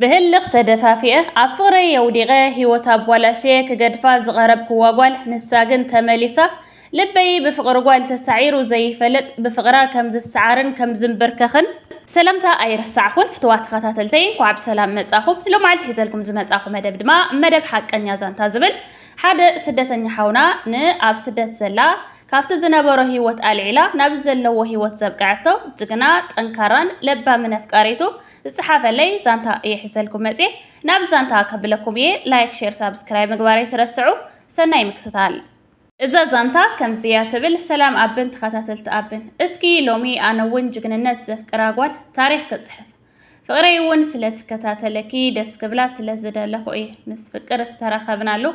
ብህልኽ ተደፋፊኤ ኣብ ፍቕረይ የውዲቐ ሂወት ኣቧላሽየ ክገድፋ ዝቐረብክዋ ጓል ንሳ ግን ተመሊሳ ልበይ ብፍቕሪ ጓል ተሳዒሩ ዘይፈልጥ ብፍቕራ ከም ዝሰዓርን ከም ዝምብርከኽን ሰላምታ ኣይረሳዕኹን ፍትዋት ተኸታተልተይ እንኳዕ ብሰላም መጻኹም ሎማዓልቲ ሒዘልኩም ዝመጻኹ መደብ ድማ መደብ ሓቀኛ ዛንታ ዝብል ሓደ ስደተኛ ሓውና ንኣብ ስደት ዘላ ካብቲ ዝነበሮ ሂወት ኣልዒላ ናብ ዘለዎ ሂወት ዘብቀዐቶ ጅግና ጠንካራን ለባምን ኣፍቃሪቱ ዝጸሓፈለይ ዛንታ እየ ሒዘልኩም መጽየ ናብዚ ዛንታ ከብለኩም እየ ላይክ ሼር ሳብስክራይብ ምግባር ኣይትረስዑ ሰናይ ምክትታል። እዛ ዛንታ ከምዚ እያ ትብል ሰላም ኣብን ተኸታተልቲ ኣብን እስኪ ሎሚ ኣነ ውን ጅግንነት ዘፍቅራ ጓል ታሪኽ ክጽሕፍ ፍቅረይ ውን ስለ ትከታተለኪ ደስ ክብላ ስለ ዝደለኹ እየ ምስ ፍቅር ዝተራኸብናሉ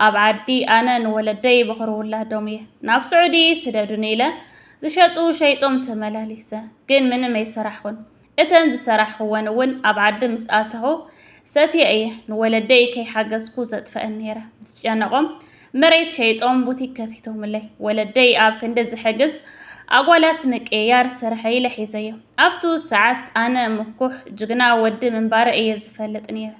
ኣብ ዓዲ ኣነ ንወለደይ በኽሪ ውላዶም እየ ናብ ስዑዲ ስደዱኒ ኢለ ዝሸጡ ሸይጦም ተመላሊሰ ግን ምንም ኣይሰራሕኹን እተን ዝሰራሕኽወን እውን ኣብ ዓዲ ምስ ኣተኹ ሰትየ እየ ንወለደይ ከይሓገዝኩ ዘጥፈአን ነይረ። ምስ ጨነቖም መሬት ሸይጦም ቡቲክ ከፊቶምለይ። ወለደይ ኣብ ክንዲ ዝሕግዝ ኣጓላት ምቅይያር ስርሐይ ኢለ ሒዘዮ። ኣብቱ ሰዓት ኣነ ምኩሕ ጅግና ወዲ ምንባረ እየ ዝፈልጥ ነይረ።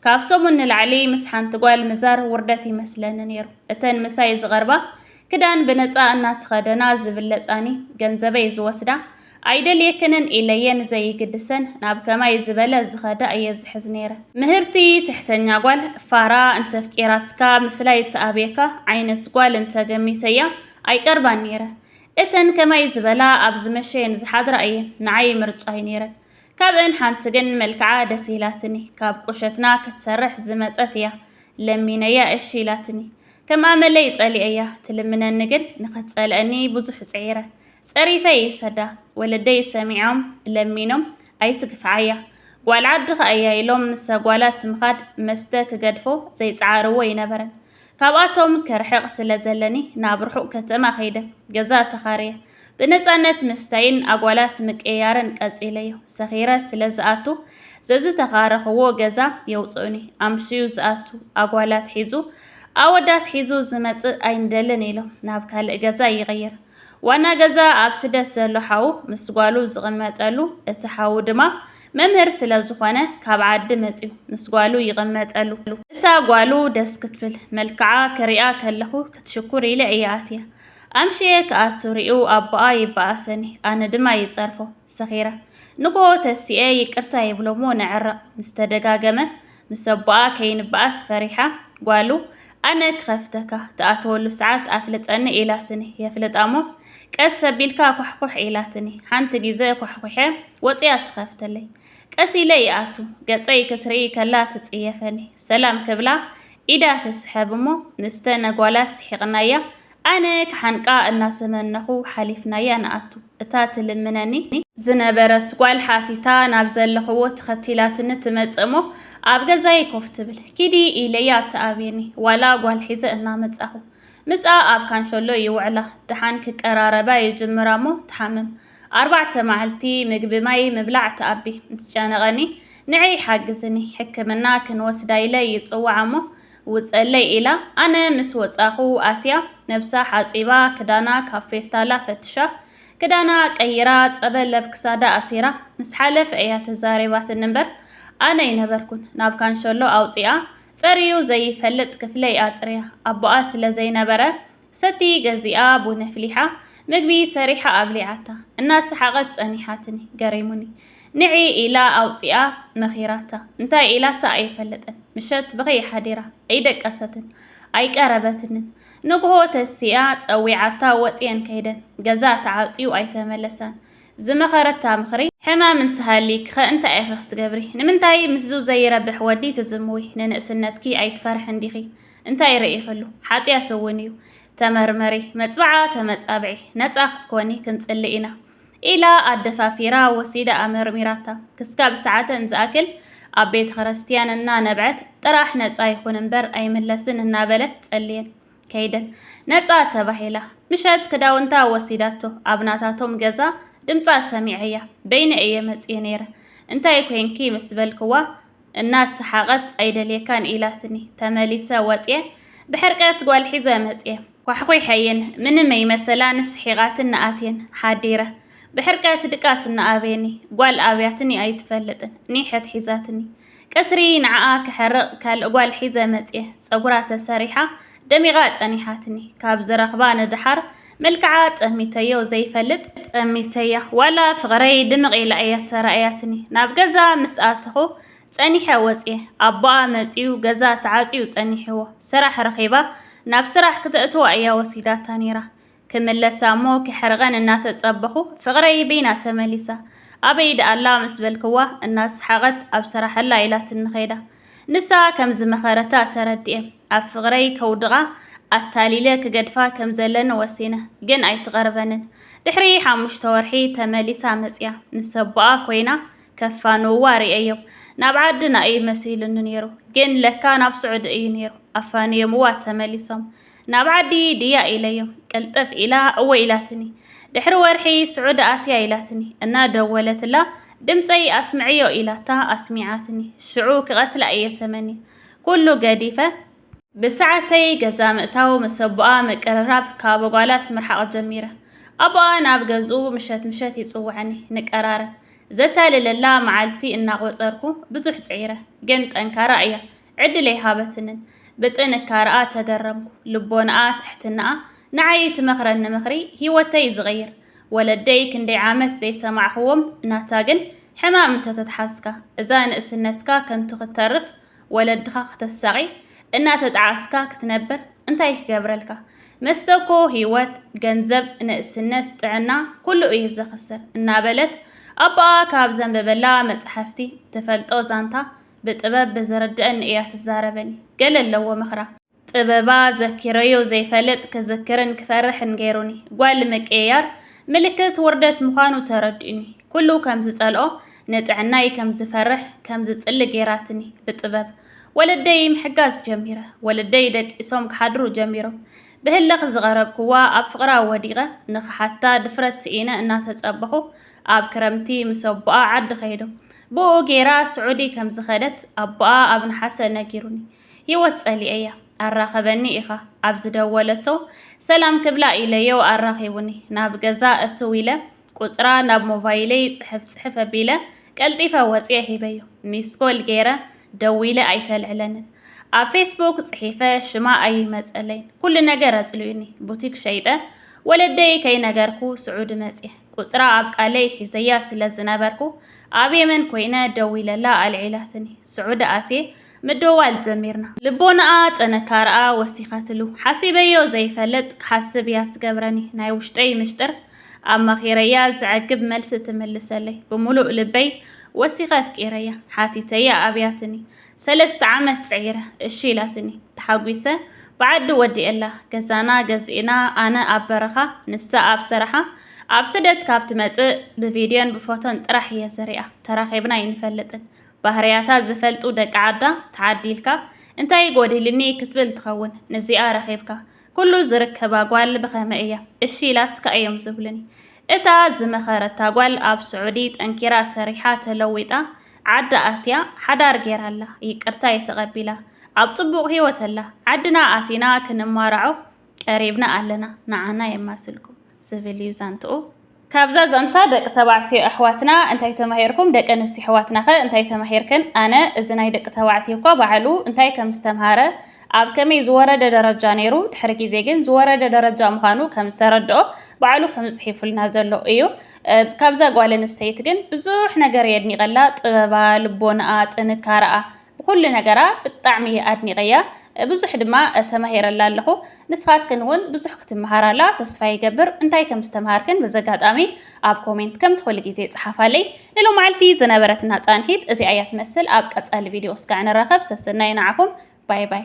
ካብ ሰሙን ንላዕሊ ምስ ሓንቲ ጓል ምዛር ውርደት ይመስለኒ ነይሩ። እተን ምሳይ ዝቐርባ ክዳን ብነጻ እናተኸደና ዝብለጻኒ፣ ገንዘበይ ዝወስዳ፣ ኣይደልየክንን ኢለየን ዘይግድሰን ናብ ከማይ ዝበለ ዝኸዳ እየ ዝሕዝ ነይረ። ምህርቲ ትሕተኛ ጓል፣ ፋራ፣ እንተፍቂራትካ ምፍላይ እትኣብየካ ዓይነት ጓል እንተገሚተያ ኣይቀርባን ነይረ። እተን ከማይ ዝበላ ኣብ ዝመሸየን ዝሓድራ እየን ንዓይ ምርጫይ ነይረን። ካብእን ሓንቲ ግን መልክዓ ደስ ኢላትኒ ካብ ቁሸትና ክትሰርሕ ዝመጸት እያ ለሚነያ እሺ ኢላትኒ ከም ኣመለይ ጸሊኤያ ትልምነኒ ግን ንክትጸልኣኒ ብዙሕ ጽዒረ ጸሪፈ ይሰዳ ወለደይ ሰሚዖም ለሚኖም ኣይትግፍዓያ ጓል ዓዲ ከኣያ ኢሎም ምሰ ጓላት ምኻድ መስተ ክገድፎ ዘይጸዓርዎ ኣይነበረን ካብኣቶም ክርሕቕ ስለ ዘለኒ ናብ ርሑቕ ከተማ ከይደ ገዛ ተኻርየ ብነጻነት ምስታይን ኣጓላት ምቅይያርን ቀጺለዮ። ሰኺረ ስለ ዝኣቱ ዘዝተኻረኽዎ ገዛ የውጽኡኒ። ኣምስዩ ዝኣቱ ኣጓላት ሒዙ ኣወዳት ሒዙ ዝመጽእ ኣይንደልን ኢሎም ናብ ካልእ ገዛ ይቕይር። ዋና ገዛ ኣብ ስደት ዘሎ ሓዉ ምስ ጓሉ ዝቕመጠሉ እቲ ሓዉ ድማ መምህር ስለ ዝኾነ ካብ ዓዲ መጽዩ ምስ ጓሉ ይቕመጠሉ። እታ ጓሉ ደስ ክትብል፣ መልክዓ ክሪኣ ከለኹ ክትሽኩር ኢለ እየ ኣትየ። ኣምሽየ ክኣቱ ሪኡ ኣቦኣ ይበኣሰኒ፣ ኣነ ድማ ይጸርፎ። ሰኺረ። ንግሆ ተሲኤ ይቅርታ ይብሎ'ሞ ንዕረቕ። ምስ ተደጋገመ ምስ ኣቦኣ ከይንበኣስ ፈሪሓ ጓሉ ኣነ ክኸፍተካ ትኣትወሉ ሰዓት ኣፍልጠኒ ኢላትኒ የፍልጣሞ ቀስ ኣቢልካ ኳሕኩሕ ኢላትኒ ሓንቲ ግዘ ኳሕኩሐ ወፂኣ ትኸፍተለይ ቀስ ኢለ ይኣቱ ገፀይ ክትርኢ ከላ ትፅየፈኒ ሰላም ክብላ ኢዳ ትስሐብ እሞ ንስተ ነጓላት ስሒቕናያ ኣነ ክሓንቃ እናተመነኹ ሓሊፍናያ ንኣቱ። እታ ትልምነኒ። ዝነበረት ጓል ሓቲታ ናብ ዘለኽዎ ተኸቲላትኒ ትመጽእ እሞ ኣብ ገዛይ ኮፍ ትብል። ኪዲ ኢለያ ትኣብየኒ። ዋላ ጓል ሒዘ እናመጻኹ። ምስኣ ኣብ ካንሸሎ ይውዕላ። ደሓን ክቀራረባ ይጅምራ እሞ ትሓምም። ኣርባዕተ መዓልቲ ምግቢ ማይ ምብላዕ ትኣቢ። እንትጨነቐኒ ንዐይ ሓግዝኒ ሕክምና ክንወስዳ ኢለ ይጽውዓ እሞ ውጸለይ ኢላ ኣነ ምስ ወጻኹ ኣትያ ነብሳ ሓጺባ ክዳና ካብ ፌስታላ ፈትሻ ክዳና ቀይራ ጸበል ኣብ ክሳዳ ኣሲራ ምስ ሓለፍ እያ ተዛሪባትኒ እምበር ኣነ ኣይነበርኩን ናብ ካንሸሎ ኣውጺኣ ጸርዩ ዘይፈልጥ ክፍለይ ኣጽርያ ኣቦኣ ስለ ዘይነበረ ሰቲ ገዚኣ ቡን ኣፍሊሓ ምግቢ ሰሪሓ ኣብሊዓታ እናሰሓቐት ጸኒሓትኒ ገሪሙኒ ንዒ ኢላ ኣውጺኣ መኺራታ እንታይ ኢላታ ኣይፈለጥን ምሸት ብኸይ ሓዲራ ኣይደቀሰትን ኣይቀረበትንን ንግሆ ተሲኣ ጸዊዓታ ወጽየን ከይደን ገዛ ተዓጽዩ ኣይተመለሳን ዝመኸረታ ምኽሪ ሕማም እንተሃሊክ ኸ እንታይ ኢኺ ክትገብሪ ንምንታይ ምስዙ ዘይረብሕ ወዲ ትዝምዊ ንንእስነትኪ ኣይትፈርሕን ዲኺ እንታይ ርኢኺሉ? ሓጢኣት እውን እዩ። ተመርመሪ፣ መፅብዓ ተመፃብዒ፣ ነፃ ክትኮኒ ክንፅሊ ኢና። ኢላ ኣደፋፊራ ወሲዳኣ መርሚራታ። ክስካብ ሰዓተን ዝኣክል ኣብ ቤተ ክርስቲያን እናነብዐት ጥራሕ ነፃ ይኹን እምበር ኣይምለስን እናበለት ጸልየን ከይደን። ነፃ ተባሂላ። ምሸት ክዳውንታ ወሲዳቶ ኣብ ናታቶም ገዛ ድምፃ ሰሚዐያ። በይነ እየ መፅየ ነይረ። እንታይ ኮይንኪ ምስ በልክዋ እናሰሓቐት ኣይደልየካን ኢላትኒ ተመሊሰ ወጽየ ብሕርቀት ጓል ሒዘ መጽየ ኳሕኲሐየን ምንም ኣይመሰላን ስሒቓትኒ ኣትየን ሓዲረ ብሕርቀት ድቃስ እናኣብየኒ ጓል ኣብያትኒ ኣይትፈልጥን ኒሕት ሒዛትኒ ቀትሪ ንዓኣ ክሕርቕ ካልእ ጓል ሒዘ መጽየ ጸጉራ ተሰሪሓ ደሚቓ ጸኒሓትኒ ካብ ዝረኽባ ንደሓር መልክዓ ጠሚተዮ ዘይፈልጥ ጠሚተያ ዋላ ፍቕረይ ድምቕ ኢላ እያ ተራእያትኒ ናብ ገዛ ምስ ኣተኹ ጸኒሐ ወጽየ ኣቦኣ መጺኡ ገዛ ተዓጽዩ ጸኒሕዎ ስራሕ ረኺባ ናብ ስራሕ ክተእትዋ እያ ወሲዳታ ነይራ ክምለሳ እሞ ክሕርቐን እናተጸበኹ ፍቕረይ በይና ተመሊሳ ኣበይ ደኣላ ምስ በልክዋ እናሰሓቐት ኣብ ስራሕላ ኢላትኒ ኸይዳ ንሳ ከም ዝመኸረታ ተረዲኤ፣ ኣብ ፍቕረይ ከውድቓ ኣታሊለ ክገድፋ ከም ዘለኒ ወሲነ። ግን ኣይትቐርበንን። ድሕሪ ሓሙሽተ ወርሒ ተመሊሳ መጺኣ። ንሰቦኣ ኮይና ከፋንውዋ ርእየዮም። ናብ ዓድና እዩ መሲሉኒ ነይሩ፣ ግን ለካ ናብ ስዑዲ እዩ ነይሩ። ኣፋንዮምዋ ተመሊሶም። ናብ ዓዲ ድያ ኢለዮ። ቅልጥፍ ኢላ እወ ኢላትኒ። ድሕሪ ወርሒ ስዑዲ ኣትያ ኢላትኒ። እናደወለትላ ድምፀይ ኣስምዕዮ ኢላታ ኣስሚዓትኒ። ሽዑ ክቐትላ እየ ተመንየ። ኩሉ ገዲፈ። ብሰዓተይ ገዛ ምእታው፣ ምስ ኣቦኣ ምቅርራብ፣ ካብ ኣጓላት ምርሓቕ ጀሚረ። ኣቦኣ ናብ ገዝኡ ምሸት ምሸት ይፅውዐኒ፣ ንቀራረብ። ዘታልለላ መዓልቲ እናቖፀርኩ ብዙሕ ፅዒረ። ግን ጠንካራ እያ። ዕድል ኣይሃበትንን። ብጥንካረኣ ተገረምኩ። ልቦናኣ፣ ትሕትናኣ፣ ንዓይ እትመኽረኒ ምኽሪ ህይወተይ ዝቕይር። ወለደይ ክንደይ ዓመት ዘይሰማዕኹዎም ናታ ግን ሕማም እንተተትሓዝካ፣ እዛ ንእስነትካ ከንቱ ክትተርፍ፣ ወለድኻ ክተሳቒ፣ እናተጠዓስካ ክትነብር እንታይ ክገብረልካ? መስተ እኮ ህይወት፣ ገንዘብ፣ ንእስነት፣ ጥዕና ኩሉ እዩ ዘኽስር እናበለት ኣቦኣ ካብ ዘንበበላ መጻሕፍቲ ትፈልጦ ዛንታ ብጥበብ ብዝርድእኒ እያ ትዛረበኒ ገለ ኣለዎ ምኽራ። ጥበባ ዘኪረዮ ዘይፈልጥ ክዝክርን ክፈርሕን ገይሩኒ። ጓል ምቅይያር ምልክት ውርደት ምዃኑ ተረዲኡኒ። ኩሉ ከም ዝጸልኦ ንጥዕናይ ከም ዝፈርሕ ከም ዝጽሊ ገይራትኒ ብጥበብ። ወለደይ ምሕጋዝ ጀሚረ። ወለደይ ደቂሶም ክሓድሩ ጀሚሮም። ብህልኽ ዝቐረብክዋ ኣብ ፍቕራ ወዲቐ ንኽሓታ ድፍረት ስኢነ እናተጸበኹ ኣብ ክረምቲ ምስ ኣቦኣ ዓዲ ከይዶም ብኡ ጌራ ስዑዲ ከም ዝኸደት ኣቦኣ ኣብ ነሓሰ ነጊሩኒ። ህይወት ጸሊኤያ። ኣራኸበኒ ኢኻ ኣብ ዝደወለቶ ሰላም ክብላ ኢለዮ ኣራኺቡኒ። ናብ ገዛ እትው ኢለ ቁጽራ ናብ ሞባይለይ ጽሕፍ ጽሕፍ ኣቢለ ቀልጢፈ ወጽየ ሂበዮ። ሚስኮል ጌረ ደዊለ ኣይተልዕለንን። ኣብ ፌስቡክ ጽሒፈ ሽማ ኣይመጸለይን። ኩሉ ነገር ኣጽልዩኒ። ቡቲክ ሸይጠ ወለደይ ከይነገርኩ ስዑዲ መጽየ። ቁጽራ ኣብ ቃለይ ሒዘያ ስለ ዝነበርኩ ኣብ የመን ኮይነ ደዊለላ ኣልዒላትኒ ስዑዲ ኣትየ ምድዋል ጀሚርና ልቦናኣ ጥንካረኣ ወሲኸትሉ ሓሲበዮ ዘይፈልጥ ክሓስብ እያ ትገብረኒ ናይ ውሽጠይ ምሽጥር ኣማኺረያ ዘዕግብ መልሲ ትምልሰለይ ብሙሉእ ልበይ ወሲኸ ኣፍቂረያ ሓቲተያ ኣብያትኒ ሰለስተ ዓመት ጽዒረ እሺ ኢላትኒ ተሓጒሰ ብዓዲ ወዲኤላ ገዛና ገዚእና ኣነ ኣብ በረኻ ንሳ ኣብ ስራሓ ኣብ ስደት ካብ ትመጽእ ብቪድዮን ብፎቶን ጥራሕ እየ ዝሪኣ ተራኺብና ኣይንፈልጥን ባህርያታ ዝፈልጡ ደቂ ዓዳ ተዓዲልካ እንታይ ጎዲልኒ ክትብል ትኸውን ንዚኣ ረኺብካ ኩሉ ዝርከባ ጓል ብኸመይ እያ እሺ ኢላትካ እዮም ዝብሉኒ እታ ዝመኸረታ ጓል ኣብ ስዑዲ ጠንኪራ ሰሪሓ ተለዊጣ ዓዳ ኣትያ ሓዳር ጌራ ኣላ ይቅርታይ ተቀቢላ ኣብ ጽቡቅ ሂወት ኣላ ዓድና ኣቲና ክንማራዖ ቀሪብና ኣለና ንዓና የማስልኩም ዝብል እዩ ዛንትኡ። ካብዛ ዛንታ ደቂ ተባዕትዮ ኣሕዋትና እንታይ ተማሂርኩም ደቂ ኣንስትዮ ኣሕዋትናኸ እንታይ ተማሂርክን ኣነ እዚ ናይ ደቂ ተባዕትዮ እኳ ባዕሉ እንታይ ከም ዝተምሃረ ኣብ ከመይ ዝወረደ ደረጃ ነይሩ ድሕሪ ግዜ ግን ዝወረደ ደረጃ ምዃኑ ከም ዝተረድኦ ባዕሉ ከም ጽሒፉልና ዘሎ እዩ ካብዛ ጓል ኣንስተይቲ ግን ብዙሕ ነገር የድኒቐላ፣ ጥበባ፣ ልቦናኣ፣ ጥንካረኣ ብኩሉ ነገራ ብጣዕሚ እየ ኣድኒቐያ። ብዙሕ ድማ ተማሂረላ ኣለኹ። ንስኻትክን እውን ብዙሕ ክትመሃራላ ተስፋ ይገብር። እንታይ ከም ዝተምሃርክን በዚ ኣጋጣሚ ኣብ ኮሜንት ከምቲ ኩሉ ግዜ ጽሓፋለይ። ንሎማዓልቲ ዝነበረትና ጻንሒት እዚኣ እያ ትመስል። ኣብ ቀጻሊ ቪድዮ እስካዕ ንራኸብ። ሰሰናዩ ንዓኹም። ባይ ባይ።